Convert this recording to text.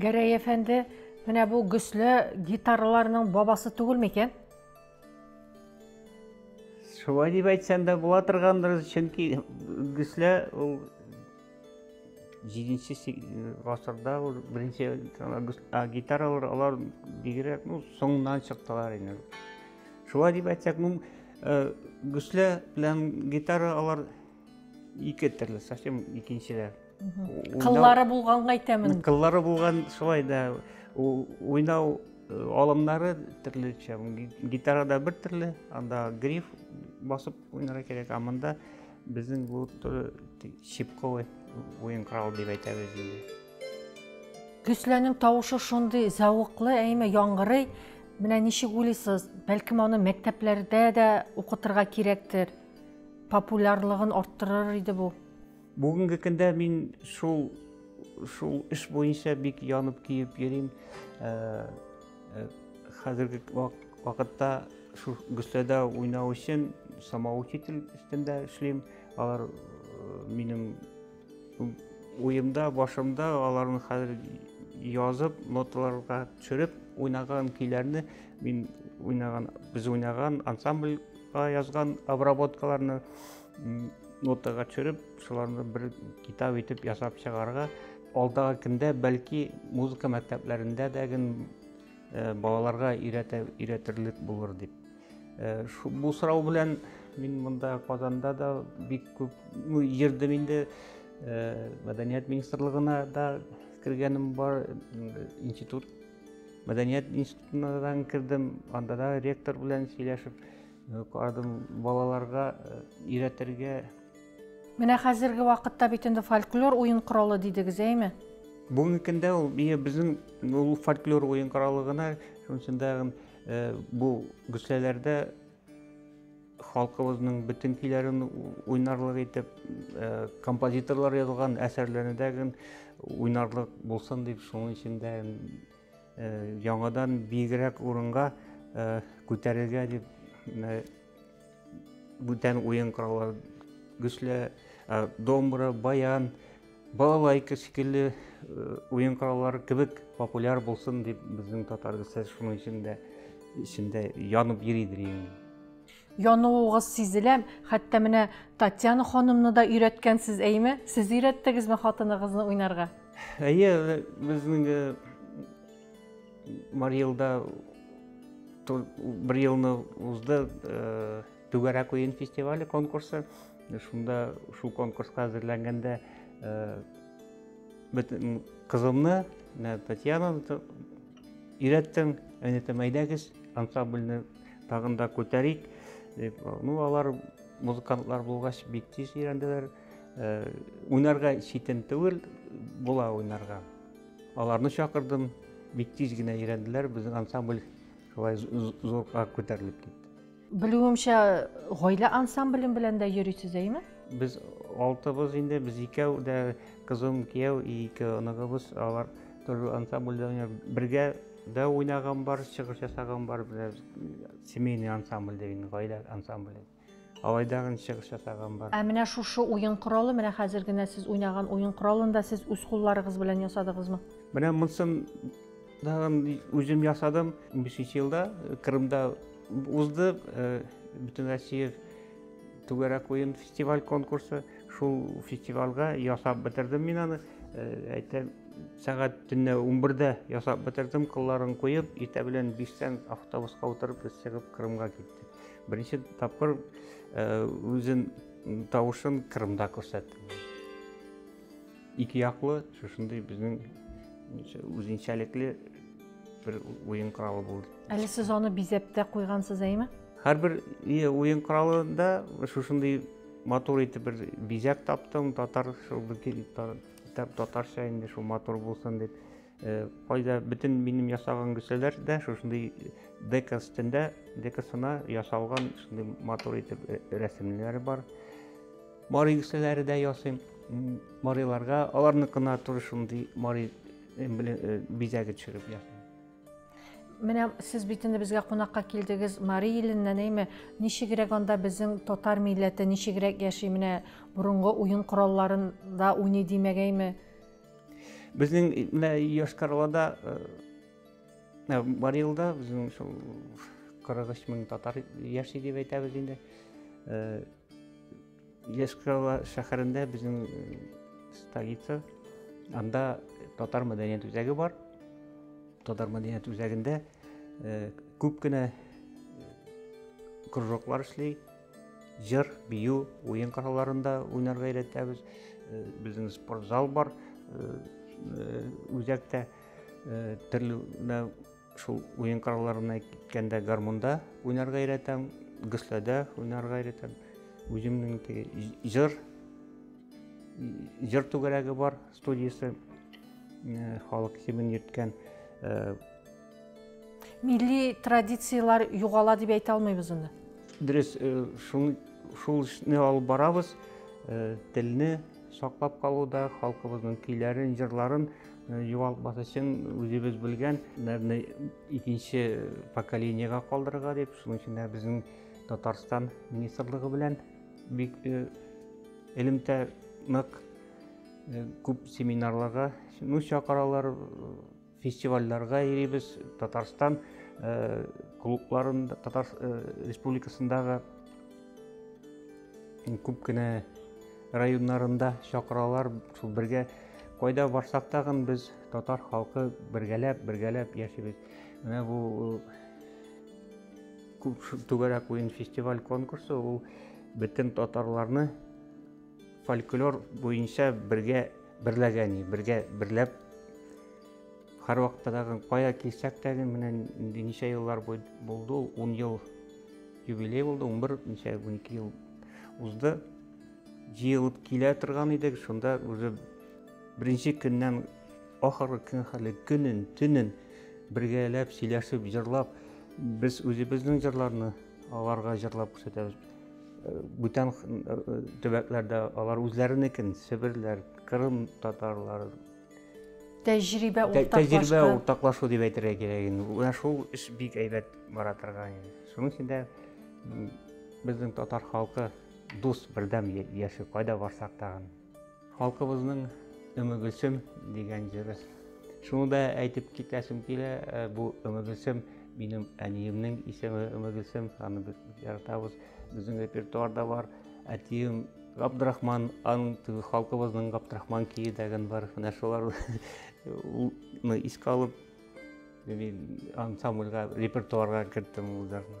Гәрәй әфәнде, менә бу гөсле гитараларның бабасы түгел микән? Шулай дип әйтсәң дә була торгандыр, чөнки гөсле ул 7-нче гасырда ул беренче гитаралар алар бигрәк, ну, соңыннан чыктылар инде. Шулай дип әйтсәк, ну, гөсле белән гитара алар ике төрле совсем икенчеләр кыллары булганга әйтәмен кыллары булган шулай да уйнау э, алымнары төрлечә гитарада бер төрле анда гриф басып уйнарга кирәк а монда безнең бу щипковый уен коралы дип әйтәбез инде Төсләнең тавышы шундый зәвыклы, әйме яңгырый. Менә ничек уйлыйсыз, бәлкем аны мәктәпләрдә дә укытырга кирәктер? популярлыгын арттырыр иде бу. Бүгенге көндә мин шул шул эш буенча бик янып көеп йөрим. Э, э, хәзерге вакытта шул гөсләдә уйнау өчен самоучитель өстендә эшлим. Алар э, минем уемда, башымда аларны хәзер язып, ноталарга төшереп уйнаган көйләрне мин уйнаган, без уйнаган ансамбль язган обработкаларны нотага төшереп, шуларны бер китап итеп ясап чыгарга, алдагы көндә бәлки музыка мәктәпләрендә дә ген э, балаларга өйрәтерлек булыр дип. Э, бу сорау белән мин монда Казанда да бик күп ну, йөрдем инде. Э, мәдәният министрлыгына да кергәнем бар, институт Мәдәният институтына да кердем, анда да ректор белән сөйләшеп э, карадым, балаларга э, өйрәтергә. Менә хәзерге вакытта бит инде фольклор уен коралы дидегез, әйме? Бүгенге көндә ул безнең ул фольклор уен коралы гына, шуның өчен дә э, бу гөсләләрдә Халкыбызның бөтен көйләрен уйнарлык итеп, композиторлар язылган әсәрләрне дә уйнарлык булсын дип, шуның өчен дә яңадан биегрәк урынга күтәрергә дип бүтән уен кораллары, гөслә, домбра, баян, Балалайка шикелле уен кораллары кебек популяр булсын дип безнең татар дәстәсе шуның өчен дә эчендә янып йөридер инде. Януыгыз сизелә, хәтта менә Татьяна ханымны да өйрәткәнсез, әйме? Сез өйрәттегезме хатыныгызны уйнарга? Әйе, безнең Марилда бер елны узды, Түгәрәк уен фестивале конкурсы. Шунда шул конкурска әзерләнгәндә бөтен кызымны, Татьянаны өйрәттем. Әнетем, әйдәгез, ансамбльне тагын да күтәрик. Дип, ну, алар музыкантлар булгач бик тиз өйрәнделәр. Уйнарга читен түгел, була уйнарга. Аларны чакырдым, бик тиз генә өйрәнделәр, безнең ансамбль шулай зурга күтәрелеп китте. Белүемчә, гаилә ансамбле белән дә йөрисез, әйме? Без алтыбыз инде, без икәү дә, кызым, кияү, ике оныгыбыз, алар төрле ансамбльдә уйнар. Бергә дә уйнаган бар, чыгыш ясаган бар, без семейный ансамбль дигән, гаилә ансамбле. Алай да чыгыш ясаган бар. Ә менә шушы уен коралы, менә хәзер генә сез уйнаган уен коралын да сез үз кулларыгыз белән ясадыгызмы? Менә монысын Тагын үзем ясадым. 15 елда Кырымда узды бөтен Россия түгәрәк уен фестиваль конкурсы. Шул фестивальга ясап бетердем мин аны. Әйтәм, сәгать төнлә 11-дә ясап бетердем, кылларын куеп, иртә белән 5-тән автобуска утырып без чыгып Кырымга киттек. Беренче тапкыр үзен тавышын Кырымда күрсәттем. Ике яклы шушындый безнең үзенчәлекле бер уен коралы булды. Әле сез аны бизәп тә куйгансыз, әйме? Һәрбер уен коралында шушындый матур итеп бер бизәк таптым, татар шул татарча инде шул матур булсын дип. Э, кайда бөтен минем ясаган гөсәләр дә шушындый дека өстендә, декасына ясалган шундый матур итеп э, рәсемнәре бар. Мари кешеләре дә ясыйм. Мариларга аларныкына туры шундый мари бизәге төшереп ясыйм. Менә сез бит инде безгә кунакка килдегез Мари иленнән, әйме? Ничегрәк анда безнең татар милләте ничегрәк яши? Менә борынгы уен коралларында уйный димәгәйме? Безнең менә Йошкар-Олада Мари илда безнең шул 43 мең татар яши дип әйтәбез инде. Лесково шәһәрендә безнең столица. Анда татар мәдәният үзәге бар. Татар мәдәният үзәгендә күп кенә кружоклар эшли. Җыр, бию, уен коралларында уйнарга өйрәтәбез. Безнең спортзал бар. Үзәктә төрле Шул уен коралларына киткәндә гармунда уйнарга өйрәтәм, гөсләдә уйнарга өйрәтәм. Үземнең теге җыр җыр түгәрәге бар студиясе э, халык кимен йөрткән э, милли традицияләр югала дип әйтә алмыйбыз аны дөрес э, шул шул эшне алып барабыз телне саклап калуда халкыбызның көйләрен җырларын Югалтмас өчен үзебез белгән нәрне икенче поколениега калдырырга дип, шуның өчен дә безнең Татарстан министрлыгы белән бик элемтә нык күп семинарларга, ну чакыралар, фестивальләргә йөрибез. Татарстан клубларында, Татар республикасындагы күп кенә районнарында чакыралар шул бергә кайда барсак тагын без татар халкы бергәләп бергәләп яшибез менә бу түгәрәк уен фестиваль конкурсы ул бөтен татарларны фольклор буенча бергә берләгән бергә берләп һәрвакытта тагын кая килсәк тәген менә ничә еллар булды ул ун ел юбилей булды ун бер ничә унике ел узды Җыелып килә торган идек, шунда үзе беренче көннән ахыргы көн хәле көнен, төнен бергәләп сөйләшеп, җырлап, без үзебезнең җырларны аларга җырлап күрсәтәбез. Э, бүтән э, э, төбәкләрдә алар үзләренекен, себерләр, кырым татарлары тәҗрибә тәҗрибә уртаклашу дип әйтергә кирәк инде менә шул эш бик әйбәт бара торган инде шуның өчен дә безнең татар халкы Дус, бердәм яши, кайда барсак тагын. Халкыбызның Өмегөлсем дигән җыры. Шуны да әйтеп китәсем килә, э, бу Өмегөлсем минем әниемнең исеме Өмегөлсем, аны без яратабыз. Безнең репертуарда бар. Әтием Габдрахман, аның теге халкыбызның Габдрахман кие дигән бар. Менә шуларны искә алып, мин ансамбльгә, репертуарга керттем ул җырны.